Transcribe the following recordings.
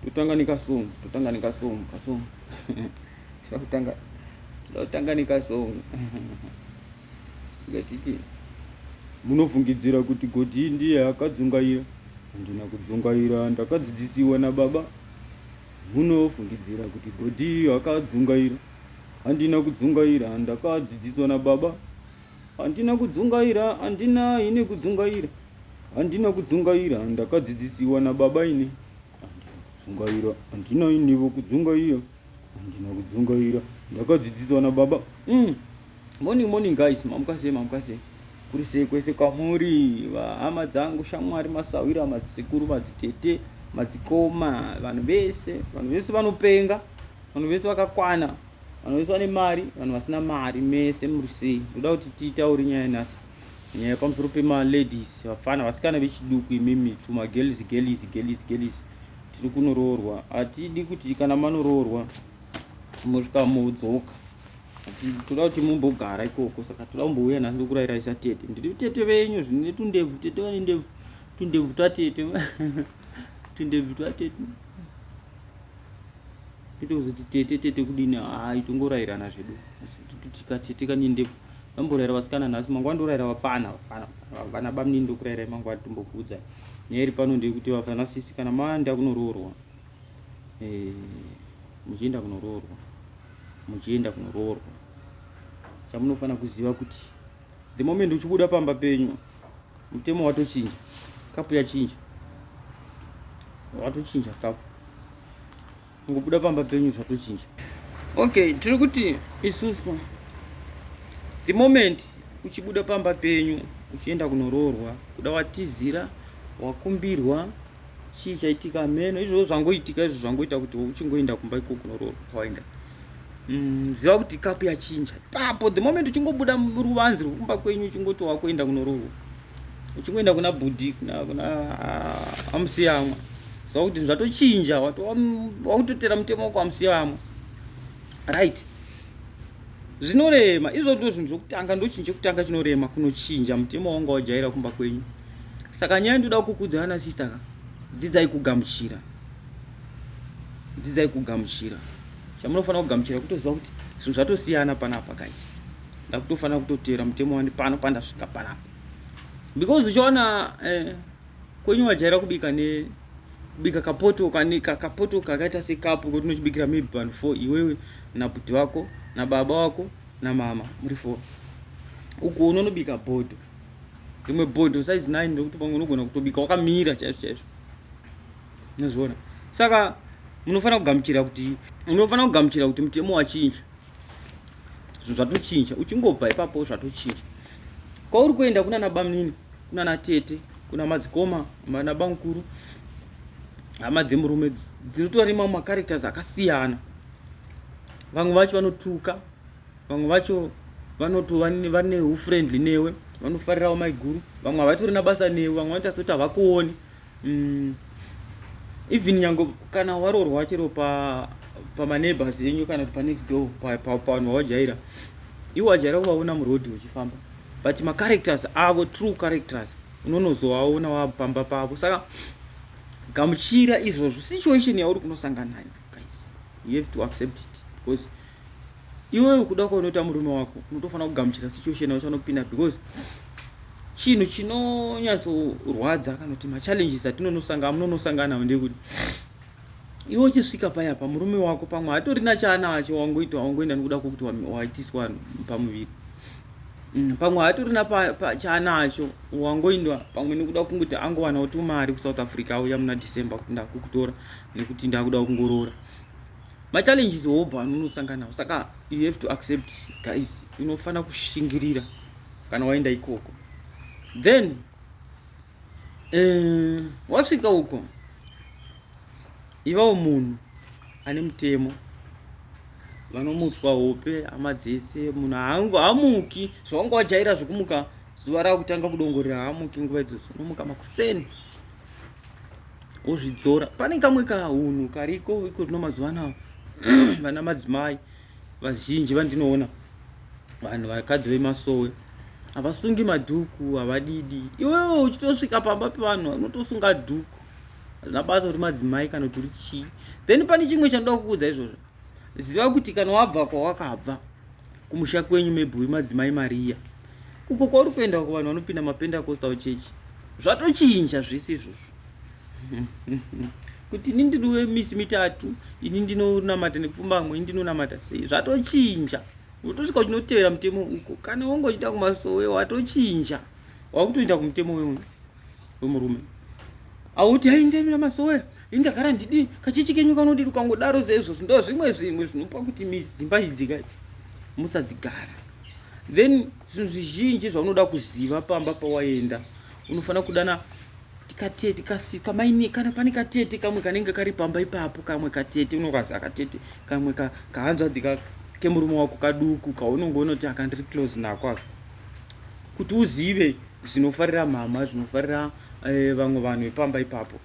totanga nekasong totanga nekasong kasong totanga totanga nekasong ngatiti munofungidzira kuti godii ndiye akadzungaira handina kudzungaira ndakadzidzisiwa nababa munofungidzira kuti godii akadzungaira handina kudzungaira ndakadzidziswa nababa handina kudzungaira handina ine kudzungaira Handina kudzungaira, ndakadzidzisiwa nababa ini. Handina kudzungaira, handina inivo kudzungaira. Handina kudzungaira, ndakadzidziswa nababa. Mm. Morning, morning guys, mamuka sei, mamuka sei. Kuri sei kwese kwamuri, hama dzangu, shamwari, masahwira, madzisekuru, madzitete, madzikoma, vanhu vese, vanhu vese vanopenga, vanhu vese vakakwana, vanhu vese vane mari, vanhu vasina mari, mese muri sei. Ndoda kuti titaure nyaya nhasi. nyaya pamusoro pemaladies vapfana vasikana vechiduku imimi tumagelizi gelizi gelizi gelizi tiri kunoroorwa hatidi kuti kana manoroorwa mosvika modzoka toda kuti mumbogara ikoko saka toda kumbouya nhasi ndokurayirai satete ndiri tete venyu zvine tundebvu tete vane ndebvu tundebvu twatete tundebvu twatete Tete kuzoti tete tete kudini haa itongorairana zvedu asi tika tete kanyende vamboraira vasikana nhasi mangwana ndoraira vapfana vapfana vana bamni ndokurairai mangwana tombokuudza nyaya iri pano ndeyekuti vafana sisi kana maenda kunoroorwa eh, muchienda kunoroorwa muchienda kunoroorwa chamunofanira kuziva kuti The moment uchibuda pamba penyu mutemo watochinja, kapu yachinja, watochinja kapu, ungobuda pamba penyu zvatochinja. Okay, tiri kuti isusu the moment uchibuda pamba penyu uchienda kunoroorwa, kuda watizira, wakumbirwa chii chaitika meno izvozvo zvangoitika izvo zvangoita kuti uchingoenda kumba ikoko kunoroorwa kwawaenda Mm, ziva kuti kapu yachinja papo the moment uchingobuda ruvanzi rwekumba kwenyu uchingoti wakuenda kunorohwa uchingoenda kuna bhudhi kuna ah, amusiyamwa ziva kuti zvatochinja wakutotera mutemo wako amusiyamwa right zvinorema izvo ndo zvinhu zvokutanga ndochinhu chekutanga chinorema kunochinja mutemo wanga wajaira kumba kwenyu saka nyaya ndoda kukudza ana sister ka dzidzai kugamuchira dzidzai kugamuchira chamunofanira kugamuchira kutoziva kuti zvinhu zvatosiyana panapa guys ndakutofanira kutoteera mutemo wani pano pandasvika panapa because uchiona eh, kwenyu wajaira kubika ne kubika kapoto kane kapoto kakaita sekapu kuti unochibikira maybe vanhu four iwewe nabuti vako nababa wako namama muri four uku unonobika bhodho rimwe bhodho size nine rekuti pamwe unogona kutobika wakamira chaizvo chaizvo Unozviona? Saka munofanira kugamuchira kuti munofanira kugamuchira kuti mutemo wachinja. Zvinhu zvatochinja. Uchingobva ipapo zvatochinja. Kwauri kuenda kuna nabamnini, kuna natete, kuna madzikoma, kuna bamkuru, hama dzemurume dzinotora nemamwe macharacters akasiyana. Vamwe vacho vanotuka, vamwe vacho vanoto vane ufriendly newe vanofarirawo maiguru vamwe havatori nabasa newe vamwe vanoita sekuti havakuoni mm, even nyango kana waroorwa chero pa pamaneighbors enyu kana kuti panext door pavanhu vawajaira iwo wajaira kuvaona muroad uchifamba but macharacters avo true characters unonozovaona wapamba pavo saka gamuchira izvozvo situation yauri kunosangana nayo guys you have to accept it because iwewe kuda kwaunoita murume wako unotofanira kugamuchira situation yacho anopinda because chinhu chinonyatsorwadza kana kuti machallenges atinonosangana munonosangana nawo ndekuti iwe uchisvika paya pa murume wako pamwe hatorina chaanacho wangoita wangoenda nokuda kwokuti waitiswa pamuviri mm, pamwe hatorina chaanacho wangoindwa pamwe nokuda kunguti angovanawo tumari kusouth africa auya muna december kuti ndakukutora nekuti ndakuda kungoroora machallenges hobho anonosanga nawo saka you have to accept guys unofanira kushingirira kana waenda ikoko then eh, wasvika uko ivawo munhu ane mutemo vanomutswa hope hama dzese munhu hangu hamuki zvawanga wajaira zvekumuka zuva rakutanga kudongorera hamuki nguva idzodzo unomuka makuseni wozvidzora pane kamwe kahunhu kariko iko zvino mazuva anaya vana madzimai vazhinji vandinoona vanhu vakadzi vemasowe havasungi madhuku havadidi iwewo uchitosvika pamba pevanhu unotosunga dhuku hazvina basa kuti madzimai kana kuti uri chii then pane chimwe chanoda kukuudza izvozvo ziva kuti kana wabva kwawakabva kumusha kwenyu maybe wemadzimai mariya uko kwauri kuenda uko vanhu vanopinda mapendacostal church zvatochinja zvese izvozvo kuti ini ndiri wemisi mitatu ini ndinonamata nepfumbamwe ini ndinonamata sei zvatochinja utosvika uchinotevera mutemo uko kana wonge uchiita kumasowe watochinja wakutoenda kumutemo wemunhu wemurume auti ainge mina masowe inge gara ndidi kachichi kenyu kanodiri ukangodaro seizvozvo ndo zvimwe zvimwe zvinopa kuti dzimba idzi kai musadzigara then zvinhu zvizhinji zvaunoda kuziva pamba pawaenda unofanira kudana katete kasika maine kana pane katete kamwe kanenge kari pamba ipapo kamwe katete unokazi akatete kamwe kahanzvadzi ka, kemurume wako kaduku kaunonge unoti akandiri close nako aka kuti uzive zvinofarira mama zvinofarira eh, vamwe vanhu vepamba ipapo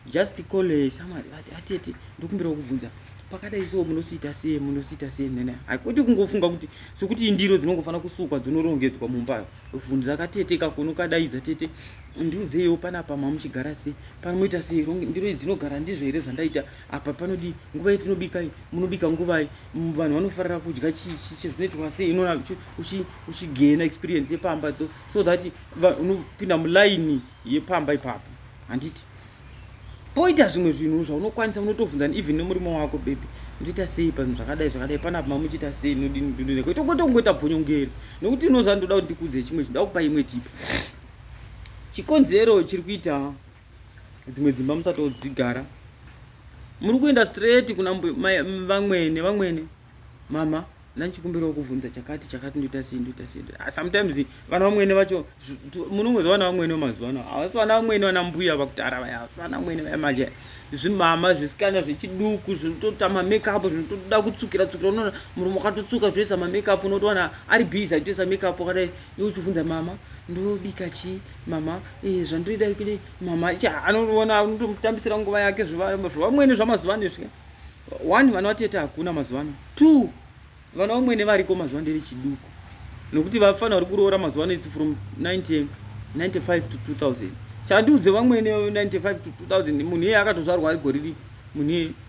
just call eh, shamwari vati atete ndokumbirawo kubvunza pakadai so munosiita sei munosiita sei nene haikuti kungofunga kuti sokuti indiro dzinongofanira kusukwa dzonorongedzwa mumbayo vhunza katete kakono kadaidza tete ndiudzeiwo panapa mamuchigara sei panomoita sei ndiro idzi dzinogara ndizvo here zvandaita apa panodii nguva yetinobikai munobika nguvai Mm, vanhu vanofarira kudya chizvinoitwa sei inoona uchigena experience yepamba to so that unopinda mulaini yepamba ipapo handiti poita zvimwe zvinhu zvaunokwanisa unotobvunza even nemurimo wako bebe ndoita sei panhu zvakadai zvakadai panapa mamuchiita sei nodinidineko itokotongoita bvonyongeri nokuti inoza ndoda kuti ndikudze chimwe chinhu ndoda kupa imwe tipa chikonzero chiri kuita dzimwe dzimba musatodzigara muri kuenda straight kuna vamwene vamwene mama ndandichikumbirawo kuvhunza chakati chakati ndoita sei ndoita sei ah, sometimes vana vamwene vacho munongoza vana vamwene vamazuva ano havasi vana vamwene vana mbuya vakutara vaya vana vamwene vaya manje zvimama zvisikana zvechiduku zvinotota mamakeup zvinotoda kutsukira tsukira unoona murume wakatotsuka zvoisa mamakeup unotowana ari busy achitoisa makeup akadai iwe uchibvunza mama ndobika chii mama eh, zvandoida kudei mama cha anoona anotomutambisira nguva yake zvevamwene zvamazuva ano izvi one vana vatete hakuna mazuva ano two vana vamwene variko mazuva ndevechiduku nokuti vafana vari kuroora mazuva ano itsi from 1995 to 2000 chandiudze vamwene 95 to 2000 munhu iye akatozvarwa ari goriri munhu iye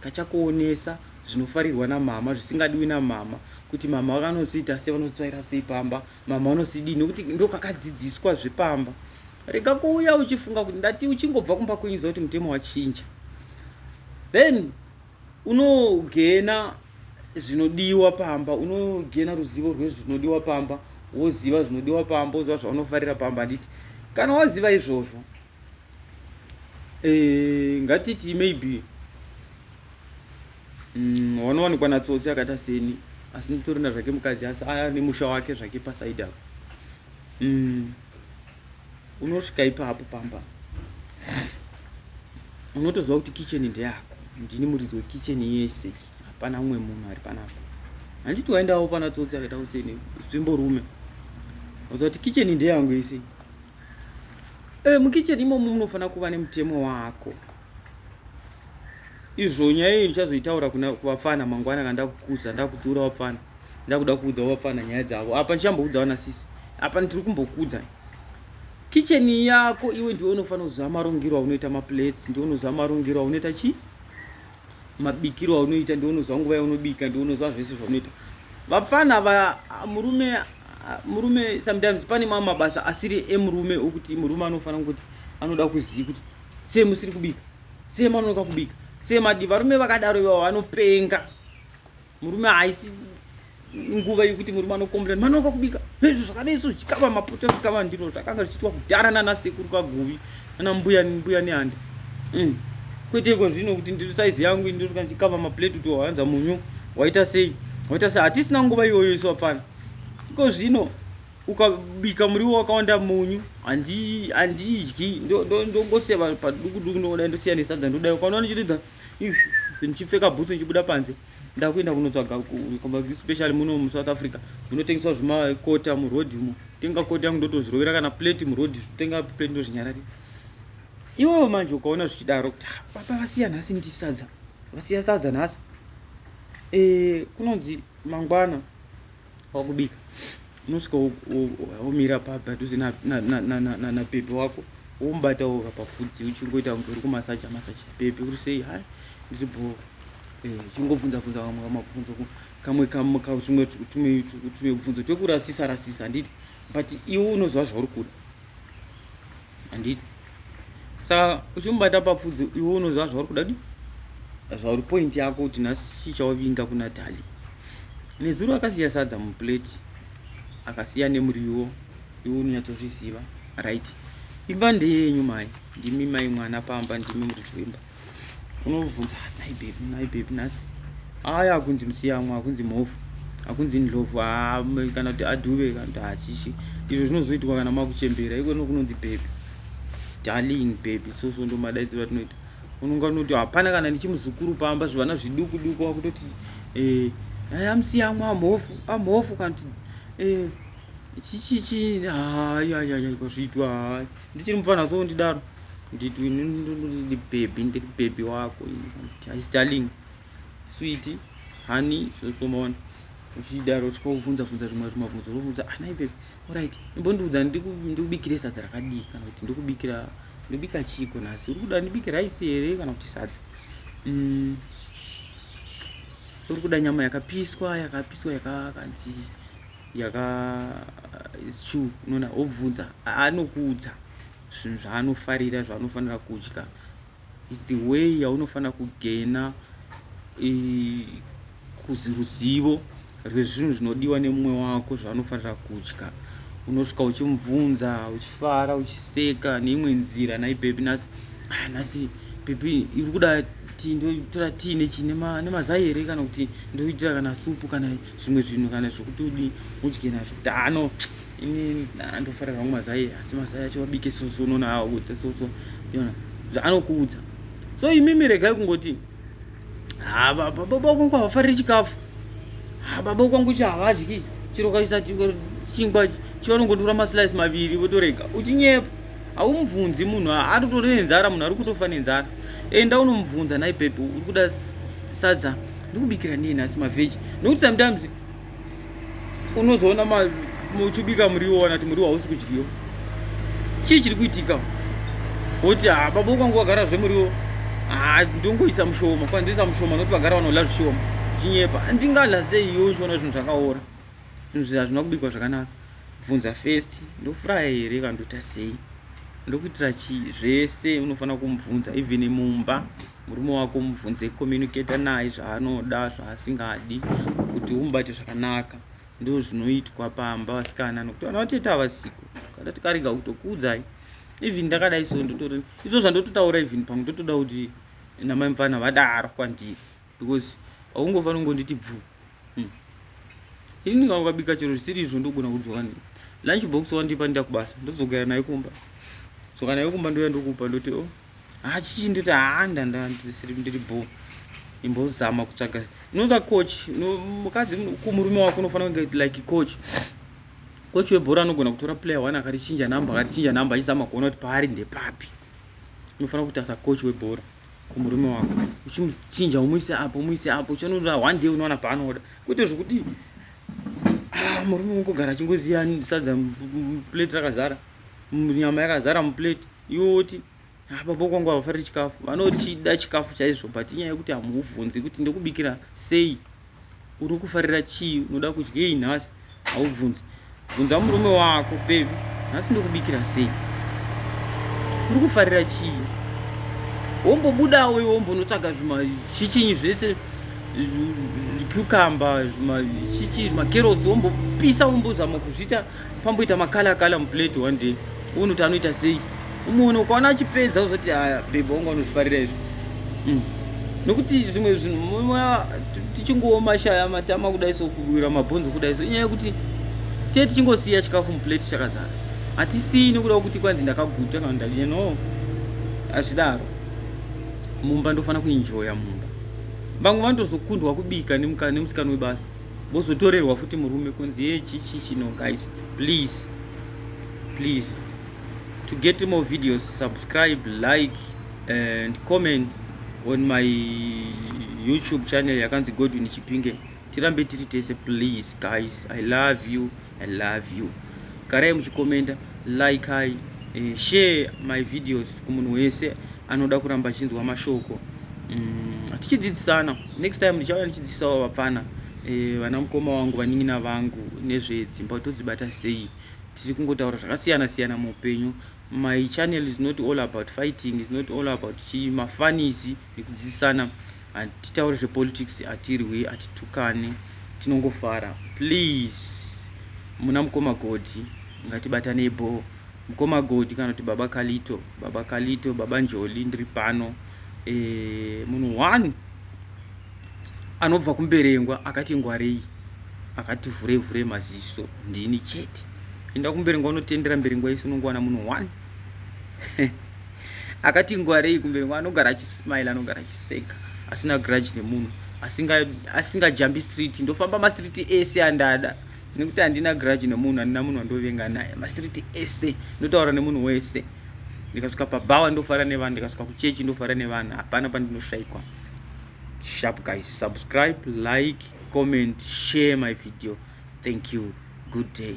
kachakuonesa zvinofarirwa namama zvisingadiwi namama kuti mama vakanoziita sei vanozotsvaira sei pamba mama vanozidii nokuti ndokakadzidziswa zvepamba rega kuuya uchifunga kuti ndati uchingobva kumba kwenyu zva kuti mutemo wachinja then unogena zvinodiwa pamba unogena ruzivo rwezvinodiwa pamba woziva zvinodiwa pamba woziva zvaunofarira pamba handiti kana waziva izvozvo eh, ngatiti maybe mm, wanowanikwa mm, natsotsi akaita seni asi nditorina zvake mukadzi asi aya nemusha wake zvake pasaidi apo mm, unosvika ipapo pamba unotoziva kuti kicheni ndeyako ndini muridzi wekicheni yese hapana umwe munhu ari panapa handiti waendawo pana tsotsi akaita kuseni zvimborume uza kuti kicheni ndeyangu yese Eh, mukitchen imomo munofanira kuva nemutemo wako izvo nyaya iyi ndichazoitaura kuvapfana mangwana kana ndakukuza ndakutsiura vapfana ndakuda kuudza vapfana nyaya dzavo apa ndichamboudza vana sisi apa ndiri kumbokudza kitchen yako iwe ndiwe unofanira kuziva marongero aunoita maplates ndiwe unoziva marongero aunoita chii mabikiro aunoita ndiunozwa nguva yaunobika ndiunozwa zvese zvaunoita vapfana va murume murume sometimes pane mamwe mabasa asiri emurume okuti murume anofanira kuti anoda kuziva kuti sei musiri kubika sei manonoka kubika sei madi varume vakadaro ivavo vanopenga murume haisi nguva yekuti murume anokombira mwana wakakubika nezvo zvakadai so zvikava mapoto zvikava ndiro zvakanga zvichiitwa kudhara nana sekuru kaguvi nana mbuya mbuya nehanda mm. kwete iko zvino kuti ndiri saizi yangu indosvika ndichikava maplate kuti wahanza munyu waita sei waita sei hatisina nguva iyoyo isu apfana iko zvino ukabika muriwo wakawanda munyu handidyi ndongoseva padukuduku ndongodai ndosiya nesadza ndodai ukaona ndichiridza ndichipfeka bhutsu ndichibuda panze ndakuenda kunotsvaga especially muno musouth africa munotengeswa zvimakota muroad umo tenga kota yangu ndotozvirovera kana plate muroad tenga plate ndozvinyarari iwewo manje ukaona zvichidaro kuti ah, baba vasiya nhasi ndisadza vasiya sadza nhasi e, kunonzi mangwana wakubika unosvika womira padhuze napepe wako womubata woka pafudzi uchingoita kunge uri kumasaja masaja pepe uri sei hai ndiri bho eh, chingobvunza bvunza vamwe vamabvunzo kamwe kamwe tumwe tumwe tumwe bvunzo twekurasisa rasisa handiti but iwe unoziva zvauri kuda handiti saka uchimubata papfudzi iwe unoziva zvauri kuda di zvauri point yako kuti nhasi chii chauvinga kuna tali nezuro akasiya sadza muplate akasiya nemuriwo iwe unonyatsozviziva right imba ndeyenyu mai ndimi mai mwana pamba ndimi muridzi wemba unobvunza nai bebi nai bebi nhasi aya akunzi musiyamwa akunzi mhofu akunzi ndlovu kana kuti adhuve kana kuti hachishi izvo zvinozoitwa kana makuchembera iko no kunonzi bebi darling bebi so so ndomadaidziro atinoita unonga unoti hapana kana ndichimuzukuru pamba zvivana zviduku duku wakutoti eh, aya musiyamwa amhofu amhofu kana kuti eh, chichichi hayi hayi hayi kwazviitwa hayi ndichiri mupfana so ndidaro nditi ndiri bhebhi ndiri bhebhi wako hais darling switi hani sosomaona uchidaro tikobvunza bvunza zvimwe zvimabvunzo obvunza anai ah, bhebhi orit imbondiudza ndikubikire sadza rakadii kana kuti ndikubikira ndikubika chiiko nhasi uri kuda ndibike raisi here kana kuti sadza mm. uri kuda nyama yakapiswa yakapiswa yakakanzi yaka it's true unoona obvunza anokuudza zvinhu zvaanofarira zvaanofanira kudya is the way yaunofanira kugena ruzivo rwezvinhu zvinodiwa nemumwe wako zvaanofanira kudya unosvika uchimubvunza uchifara uchiseka neimwe nzira nai bebi nhasi ah, nhasi bebi iri kuda ti ndotora tii nechi nemazai here kana kuti ndoitira kana supu kana zvimwe zvinhu kana zvekuti udi udye nazvo tano ini andofarira hangu mazai asi mazai acho vabike soso unoona hawa kuita soso tiona zvaanokuudza so imimi regai kungoti ha baba kwangu havafariri chikafu ha baba kwangu chi havadyi chiro kaisa chingwa chivanongotora maslice maviri votorega uchinyepa haumubvunzi munhu atotori nenzara munhu ari kutofa nenzara enda unomubvunza nai pepi uri kuda sadza ndikubikira nei nhasi mavheji nokuti sometimes unozoona muchibika muriwo kana kuti muriwo hausi kudyiwa chii chiri kuitika woti ha ah, baba ukwangu wagara zvemuriwo ha ah, ndongoisa mushoma kwana ndoisa mushoma nokuti vagara vanola zvishoma chinyepa ndingala sei iyo uchiona zvinhu zvakaora zvinhu zvi hazvina kubikwa zvakanaka bvunza first ndofuraya here kandoita sei ndokuitira chii zvese unofanira kumubvunza even mumba murume wako mubvunze communicator naye zvaanoda zvaasingadi kuti umubate zvakanaka ndo zvinoitwa pamba vasikana nokuti vana vatete avasiko kana tikarega kutokuudzai even ndakadai so ndotori izvo zvandototaura even pamwe ndotoda kuti namai mupfana vadaro kwandiri because aungofanira kungonditi bvu hmm. ini ndikangokabika chero zvisiri izvo ndogona kudzoka ne lunch box wandipa ndida kubasa ndozogara nayo kumba so kana yokumba ndoya ndokupa ndoti o oh, hachichi ndoti haa ndandisiri ndiri bho imbozama kutsvaga unoza coach mukadzi kumurume wako unofanira kunge like coach coach webhora anogona kutora player one akarichinja number akarichinja number achizama kuona kuti paari ndepapi unofanira kuita sacoach webhora kumurume wako uchimuchinja umuise apo umuise apo uchinoda one day unowana paanoda kuite zvekuti ah, murume ungogara achingoziva sadza plate rakazara nyama yakazara muplate iwe woti ah, baba kwangu havafariri chikafu vanochida chikafu chaizvo but inyaya yekuti hamuvhunzi kuti ndokubikira sei uri kufarira chii unoda kudyei nhasi haubvunzi bvunza murume wako bebi nhasi ndokubikira sei uri kufarira chii wombobudawo iwe wombonotsvaga zvimachichinyi zvese zvicucumber zvimachichi zvimakerotsi wombopisa wombozama kuzviita pamboita makala kala muplate one day uone kuti anoita sei umoona ukaona achipedza uzoti aya bebe wanga unozvifarira izvi mm. nokuti zvimwe zvinhu tichingowo mashaya matama kudai so kuwira mabhonzo kudai so inyaya yekuti tee tichingosiya chikafu muplate chakazara hatisii nokuda kuti kwanzi ndakaguta kana ndadii no hazvidaro mumba ndofanira kuenjoya mumba vamwe vanotozokundwa kubika nemusikana webasa vozotorerwa futi murume kunzi ye chichichi no guys please please to get more videos subscribe like and comment on my youtube channel yakanzi godwin chipinge tirambe tiri tese please guys i love you I love you. Garai muchikomenda, like I, eh, share my videos kumunhu wese anoda kuramba achinzwa mashoko. Mm, tichidzidzisana. Next time ndichauya ndichidzidzisawo vapfana eh, vana mukoma wangu vaningina vangu nezvedzimba kuti todzibata sei. Tiri kungotaura zvakasiyana siyana muupenyu. My channel is not all about fighting, is not all about chii, mafanizi nekudzidzisana. Hatitauri zvepolitics hatirwi hatitukane tinongofara please muna mukoma Godhi ngatibatanei bhoo mukoma Godhi kana kuti baba Kalito baba Kalito baba Njoli ndiri pano e, munhu one anobva kumberengwa akati ngwarei akati vhurei vhurei maziso ndini chete enda kumberengwa unotendera mberengwa yese unongowana munhu one akati ngwarei kumberi kwa anogara achismile anogara achiseka asina grudge nemunhu asingajambi asinga street ndofamba mastreet ese andada nekuti handina grudge nemunhu handina munhu wandovenga naye mastreet ese ndotaura nemunhu wese ndikasvika pabhawa ndofara nevanhu ndikasvika kuchechi ndofara nevanhu hapana pandinoshaikwa sharp guys subscribe like comment share my video thank you good day